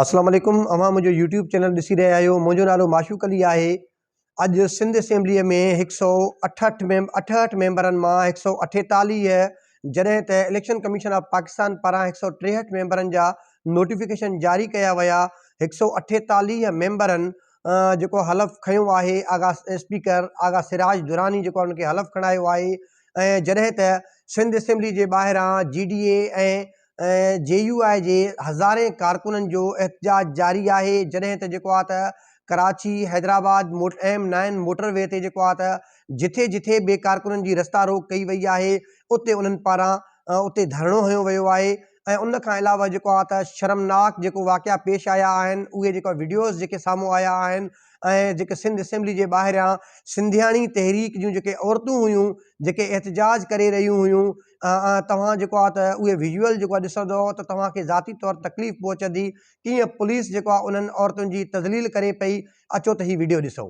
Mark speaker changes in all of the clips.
Speaker 1: اسلام عليڪم اوهان منهنجو يوٽيوب چينل ڏسي رهيا آهيو منهنجو نالو معشوق علي آهي اڄ سنڌ اسيمبليء ۾ هڪ سؤ اٺهٺ ميم اٺهٺ ميمبرن مان هڪ سؤ اٺيتاليهه جڏهن ته اليڪشن ڪميشن آف پاڪستان پاران هڪ سؤ ٽيهٺ ميمبرن جا نوٽيفڪيشن جاري ڪيا ويا هڪ سؤ اٺيتاليهه ميمبرن جيڪو حلف کنيو آهي آغا اسپيڪر آغا سراج دراني جيڪو ان کي حلف کڻايو آهي ۽ جڏهن ته سنڌ اسيمبلي جي ٻاهران G D A ۽ ۽ J U I جي هزارين ڪارڪنن جو احتجاج جاري آهي جڏهن ته جيڪو آهي ته ڪراچي حيدرآباد موٽ ايم نائن موٽر وي تي جيڪو آهي ته جٿي جٿي به ڪارڪنن جي رستا روڪ ڪئي وئي آهي اتي انهن پاران اتي ڌرڻو هنيو ويو آهي ۽ ان کان علاوه جيڪو آهي ته شرمناڪ جيڪو واقعا پيش آيا آهن اهي جيڪا وڊيوز جيڪي سامهون آيا آهن ۽ جيڪي سنڌ اسيمبلي جي ٻاهريان سنڌياڻي تحريڪ جون جيڪي عورتون هيون جيڪي احتجاج ڪري رهيون هيون ۽ توهان جيڪو آهي ته اهي ويزوئل جيڪو آهي ڏسندؤ ته توهان کي ذاتي طور تڪليف پهچندي ڪيئن پوليس جيڪو آهي انهن عورتن جي تذليل ڪري پئي اچو ته هي وڊيو ڏسو.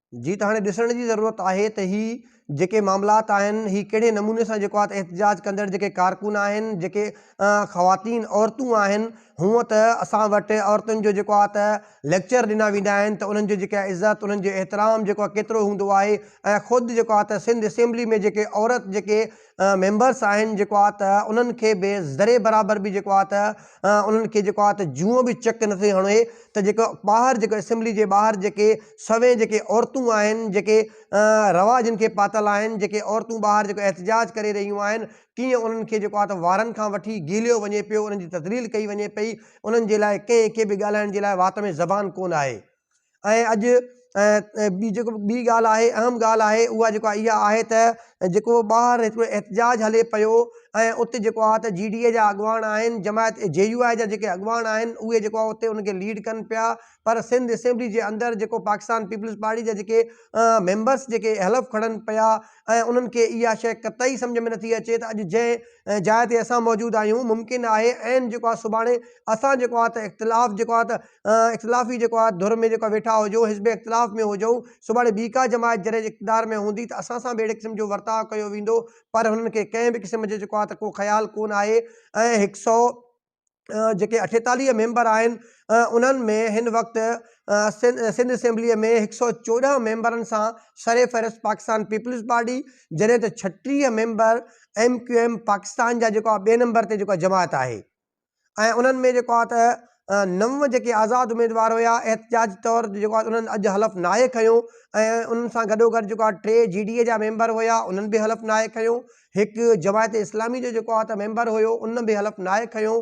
Speaker 1: جي ته هاڻي ڏسڻ جي ضرورت آهي ته هي جيڪي معاملات آهن هي ڪهڙي نموني سان جيڪو آهي احتجاج ڪندڙ جيڪي ڪارڪن آهن جيڪي خواتين عورتون آهن هونء ته اسان وٽ عورتن جو جيڪو آهي ته ليڪچر ڏنا ويندا آهن ته انهن جو جيڪا عزت انهن جو احترام جيڪو آهي ڪيترو هوندو آهي ۽ خود جيڪو آهي ته سنڌ اسيمبلي ۾ جيڪي عورت جيڪي ميمبرس آهن جيڪو آ ته انهن کي به ذري برابر به جيڪو آ ته انهن کي جيڪو آ ته جونء به چڪ نه ٿي هڻي ته جيڪو ٻاهر جيڪو اسيمبلي جي ٻاهر جيڪي سوين جيڪي عورتون آهن جيڪي روا جن کي پاتل آهن جيڪي عورتون ٻاهر جيڪو احتجاج ڪري رهيون آهن ڪيئن انهن کي جيڪو آ ته وارن کان وٺي گيليو وڃي پيو انهن جي تذليل ڪئي وڃي پئي انهن جي لاء ڪنهن کي به ڳالهائڻ جي لاء وات ۾ زبان ڪونه آهي. ۽ اڄ ٻي جيڪو ٻي ڳالهه آهي اهم ڳالهه آهي اها جيڪو آهي اها آهي ته جيڪو ٻاهر هڪ احتجاج هلي پيو ۽ اتي جيڪو آهي ته جي ڊي اي جا اڳواڻ آهن جماعت جي يو آء جا جيڪي اڳواڻ آهن اهي جيڪو آهي اتي ان کي ليڊ ڪن پيا پر سنڌ اسيمبلي جي اندر جيڪو پاڪستان پيپلز پارٽي جا جيڪي ميمبرس جيڪي حلف کڻن پيا ۽ انهن کي اها شيء قطعي سمجھ ۾ نٿي اچي ته اڄ جنهن جاء تي اسان موجود آهيون ممڪن آهي عين جيڪو آهي سڀاڻي اسان جيڪو آهي ته اختلاف جيڪو آهي ته اختلافي جيڪو آ ڌر ۾ جيڪو ويٺا هجو حزب اختلاف ۾ هجون سڀاڻي ٻي ڪا جماعت جڏهن اقتدار ۾ هوندي ته اسان سان به اهڙي قسم جو ورتاء ڪيو ويندو پر هنن کي ڪنهن به قسم جو جيڪو آ ته ڪو خيال ڪون آهي ۽ هڪ سئو جيڪي اٺيتاليهه ميمبر آهن انهن ۾ هن وقت سنڌ اسيمبلي ۾ هڪ سئو چوڏهن ميمبرن سان سر فهرست پاڪستان پيپلز پارٽي جڏهن ته ڇٽيهه member M Q M Pakistan جا جيڪو آ ٻئي نمبر تي جيڪو آ جماعت آهي. ۽ انهن ۾ جيڪو آهي ته نو جيڪي آزاد اميدوار هيا احتجاجي طور تي جيڪو آهي انهن اڄ حلف ناهي کنيو ۽ انهن سان گڏوگڏ جيڪو آهي ٽي جي ڊي اي جا ميمبر هيا انهن به حلف ناهي کنيو هڪ جماعت اسلامي جو جيڪو آهي ته ميمبر هيو ان به حلف ناهي کنيو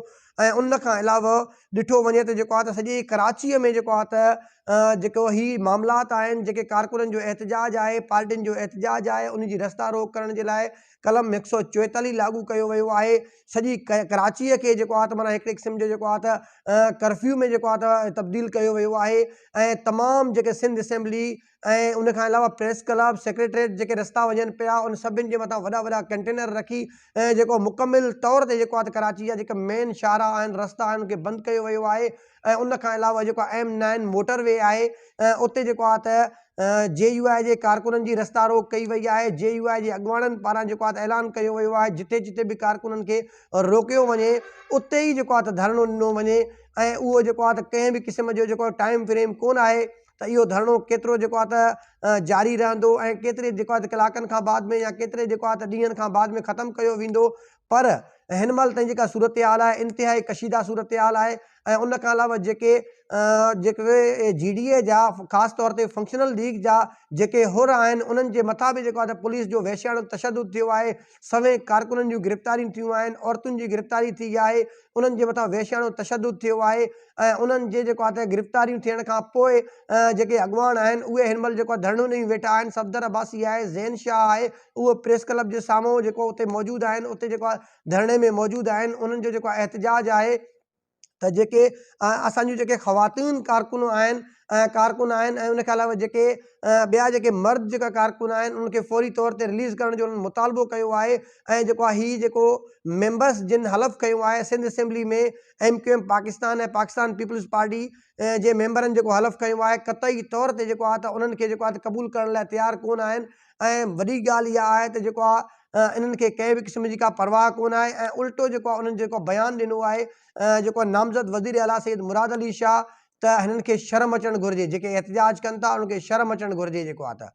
Speaker 1: ۽ ان کان علاوه ڏٺو وڃي ته جيڪو آهي ته سڄي ڪراچيء ۾ جيڪو آهي ته جيڪو هي معاملات آهن جيڪي ڪارڪنن جو احتجاج آهي پارٽين جو احتجاج آهي ان جي رستا روڪ ڪرڻ جي لاء قلم هڪ سؤ چوئيتاليهه لاڳو ڪيو ويو آهي سڄي ڪراچيء کي جيڪو آهي ته معنيٰ هڪڙي قسم جو جيڪو آهي ته ڪرفيو ۾ جيڪو آهي ته تبديل ڪيو ويو آهي ۽ تمام جيڪي سنڌ اسيمبلي ۽ ان کان علاوه پريس ڪلب سيڪريٽريٽ جيڪي رستا وڃن پيا ان سڀني جي مٿان وڏا وڏا ڪنٽينر رکي جيڪو مڪمل طور تي جيڪو آهي ته ڪراچي جا جيڪا مين شاهراهه آهن رستا آهن ان کي بند ڪيو ويو آهي ۽ ان کان علاوه جيڪو ايم نائن موٽر وي آهي اتي جيڪو آهي ته جي يو آء جي ڪارڪنن جي رستا روڪ ڪئي وئي آهي جي يو آء جي اڳواڻن پاران جيڪو آهي ته اعلان ڪيو ويو آهي جتي جتي به ڪارڪنن کي روڪيو وڃي اتي ئي جيڪو آهي ته ڌرڻو ڏنو وڃي ۽ اهو جيڪو آهي ته ڪنهن به قسم جو جيڪو ٽائيم فريم ڪونه آهي ته اهو ڌرڻو ڪيترو جيڪو آهي ته جاري رهندو ۽ ڪيتري جيڪو آهي ته ڪلاڪن کان بعد ۾ يا ڪيتري جيڪو آهي ته ڏينهن کان بعد ۾ ختم ڪيو ويندو پر هن مهل تائين جيڪا صورتحال آهي انتهائي ڪشيده صورتحال آهي ۽ ان کان علاوه جيڪي جيڪي جي ڊي اي جا خاص طور تي فنڪشنل ليگ جا جيڪي حر آهن انهن جي مٿان به جيڪو آهي پوليس جو وحشياڻو تشدد ٿيو آهي سوين ڪارڪنن جون گرفتاريون ٿيون آهن عورتن جي گرفتاري ٿي آهي انهن جي مٿان وحشياڻو تشدد ٿيو آهي ۽ انهن جي جيڪو آهي گرفتاريون ٿيڻ کان پوء جيڪي اڳواڻ آهن اهي هن مهل جيڪو ڌرڻو ڏئي ويٺا آهن صفدر عباسي آهي زين شاهه آهي اهو پريس ڪلب جي سامهون جيڪو اتي موجود آهن اتي جيڪو آهي ڌرڻي ۾ موجود آهن انهن جو جيڪو احتجاج آهي ته جيڪي اسان جون جيڪي خواتين ڪارڪنون آهن ڪارڪن آهن ۽ ان کان علاوه جيڪي ٻيا جيڪي مرد جيڪا ڪارڪن آهن انهن کي فوري طور تي رليز ڪرڻ جو انهن مطالبو ڪيو آهي ۽ جيڪو آهي هي جيڪو ميمبرس جن حلف کنيو آهي Sindh assembly ۾ M Q M Pakistan ۽ Pakistan peoples party جي ميمبرن جيڪو حلف کنيو آهي قطعي طور تي جيڪو آهي ته انهن کي جيڪو آهي ته قبول ڪرڻ لاء تيار ڪونه آهن ۽ وڏي ڳالهه اها آهي ته جيڪو آهي انهن کي ڪنهن به قسم جي ڪا پرواهه ڪونه آهي ۽ الٽو جيڪو آهي انهن جيڪو بيان ڏنو آهي جيڪو نامزد وزير اعليٰ سيد مراد علي شاهه ته هنن کي شرم اچڻ گهرجي جيڪي احتجاج ڪن ٿا انهن کي شرم اچڻ گهرجي جيڪو آ ته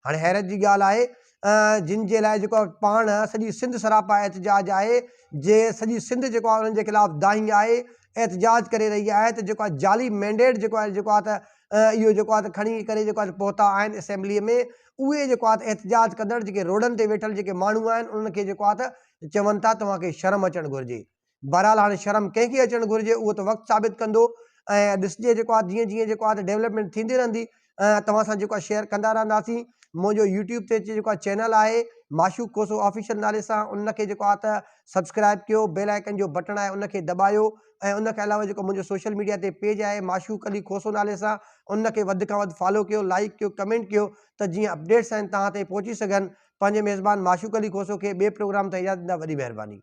Speaker 1: هاڻي حيرت جي ڳالهه آهي جن جي لاء جيڪو پاڻ سڄي سنڌ سراپا احتجاج آهي جي سڄي سنڌ جيڪو انهن جي خلاف دانهين آهي احتجاج ڪري رهي آهي ته جيڪو جعلي مينڊيٽ جيڪو آهي جيڪو آ ته اهو جيڪو آ ته کڻي ڪري جيڪو آ پهتا آهن اسيمبلي ۾ اهي جيڪو آ ته احتجاج ڪندڙ جيڪي روڊن تي ويٺل جيڪي ماڻهو آهن انهن کي جيڪو آ ته چون ٿا توهان کي شرم اچڻ گهرجي بهرحال هاڻي شرم ڪنهن کي اچڻ گهرجي اهو ته وقت ثابت ڪندو ۽ ڏسجي جيڪو آ جيئن جيئن جيڪو آ ته ڊيولپمينٽ ٿيندي رهندي ۽ توهان سان جيڪو آ شيئر ڪندا رهنداسين منهنجو يوٽيوب تي جيڪو آ چينل آهي معشوق کوسو آفيشل نالي سان ان کي جيڪو آ ته سبسڪرائب ڪيو بيل آئيڪن جو بٽڻ آهي ان کي دٻايو ۽ ان کان علاوه جيڪو منهنجو سوشل ميڊيا تي پيج آهي معشوق علي کوسو نالي سان ان کي وڌ کان وڌ فالو ڪيو لائڪ ڪيو ڪمينٽ ڪيو ته جيئن اپڊيٽس آهن توهان تائين پهچي سگهن پنهنجي ميزبان معشوق علي کوسو کي ٻئي پروگرام تائين اجازت ڏيندا وڏي مهرباني.